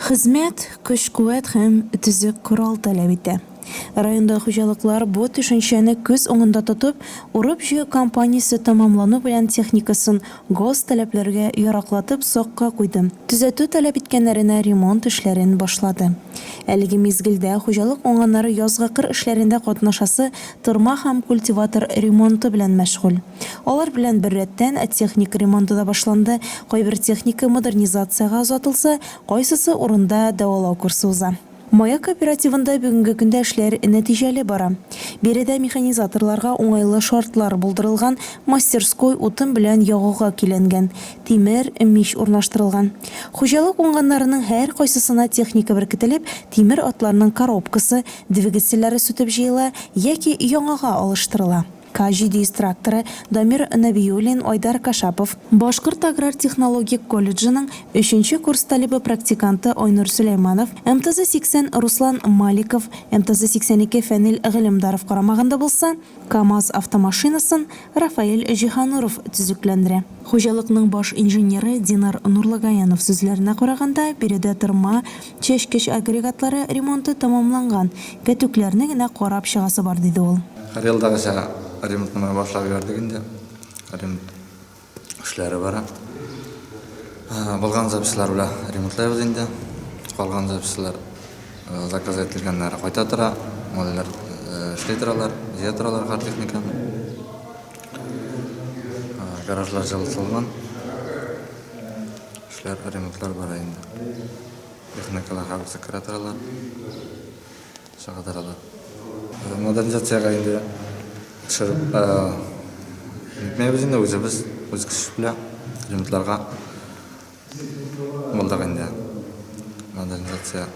Хезмәт, көч-куәт һәм төзек корал таләп итә. Районда хуҗалыклар бу төшенчәне күз уңында тотып, урып-җыю кампаниясе тәмамлану белән техникасын гос таләпләргә яраклатып сакка куйды, төзәтү таләп иткәннәренә ремонт эшләрен башлады. Әлеге мизгелдә хуҗалык уңганнары язгы кыр эшләрендә катнашасы тырма һәм культиватор ремонты белән мәшгуль. Алар белән беррәттән, техника ремонты да башланды, кайбер техника модернизациягә озатылса, кайсысы урында дәвалау курсы уза. Маяк кооперативында бүгенге көндә эшләр нәтиҗәле бара. Биредә механизаторларга уңайлы шартлар булдырылган, мастерской утын белән ягуга көйләнгән, тимер, мич урнаштырылган. Хуҗалык уңганнарының һәркайсысына техника беркетелеп, тимер атларның коробкасы, двигательләре сүтеп җыела яки яңага алыштырыла. Каҗи диестракторы, Дамир Нәбиуллин, Айдар Кашапов, Башкорт аграр технологик колледжының өченче курс талибы-практиканты Айнур Сөләйманов, МТЗ-80 Руслан Маликов, МТЗ-82 Фәнил Гыйлемдаров карамагында булса, КАМАЗ автомашинасын Рафаэль Җиһануров төзекләндерә. Хуҗалыкның баш инженеры Динар Нурлагаянов сүзләренә караганда, биредә тырма, Чәчкеч агрегатлары ремонты тәмамланган, пәтүкләрне генә карап чыгасы бар, диде ул. Һәрьелдагыча ремонтны менә башлап җибәрдек инде. Ремонт эшләре бара. Булган запчастьлар белән ремонтлыйбыз инде. Калган запчастьлар заказ ителгәннәре кайта тора. Малайлар эшли торалар, җыя торалар гар техниканы. Гаражлар җылытылган. Эшләр, ремонтлар бара инде. Техникалар һәммәсе керә торалар, чыга торалар. Модернизациягә инде төшереп бетмәбез инде, үзебез, үз көч белән ремонтларга булдык инде. Модернизация.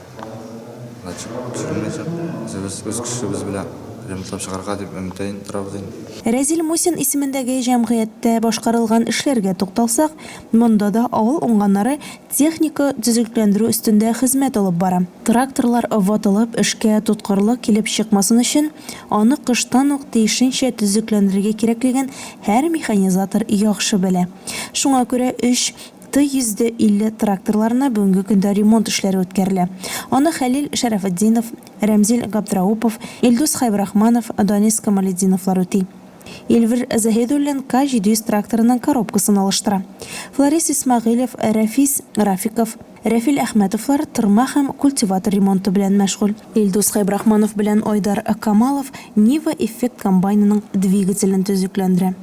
Значит, төшермәячәк. Үзебез үз көчебез белән ремонтлап чыгарга дип өметләнеп торабыз инде. Рәзил Мусин исемендәге җәмгыятьтә башкарылган эшләргә тукталсак, монда да авыл уңганнары техника төзекләндерү өстендә хезмәт алып бара. Тракторлар ватылып, эшкә тоткарлык килеп чыкмасын өчен, аны кыштан ук тиешенчә төзекләндерергә кирәклеген һәр механизатор яхшы белә. Шуңа күрә өч Ты 150 тракторларына бүгенге көндә ремонт эшләре үткәрелә. Аны Хәлил Шәрәфетдинов, Рәмзил Габдраупов, Илдус Хәйбрахманов, Данис Камалетдиновлар үти. Эльвир Заһидуллин К-700 тракторының коробкасын алыштыра. Фларис Исмәгыйлев, Рәфис Рафиков, Рәфил Әхмәтовлар тырма һәм культиватор ремонты белән мәшгуль. Илдус Хәйбрахманов белән Айдар Камалов Нива Effect комбайнының двигателен төзекләндерә.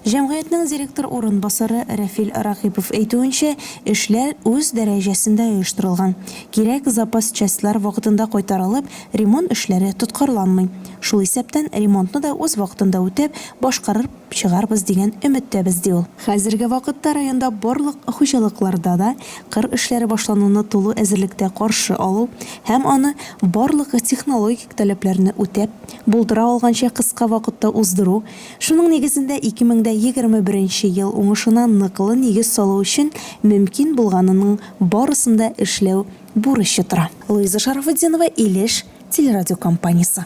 Җәмгыятьнең директор урынбасары Рәфил Ракыйпов әйтүенчә, эшләр үз дәрәҗәсендә оештырылган. Кирәк запас частьлар вакытында кайтарылып, ремонт эшләре тоткарланмый. Шул исәптән ремонтны да үз вакытында үтәп, башкарып чыгарбыз дигән өметтәбез, ди ул. Хәзерге вакытта районда барлык хуҗалыкларда да кыр эшләре башлануны тулы әзерлектә каршы алу һәм аны барлык технологик таләпләрне үтәп, булдыра алганча кыска вакытта уздыру Шуның нигезендә ике мең дә егерме беренче ел уңышына ныклы нигез салу өчен мөмкин булганының барысын да эшләү бурычы тора. Луиза Шарафутдинова, Илеш телерадиокомпаниясе.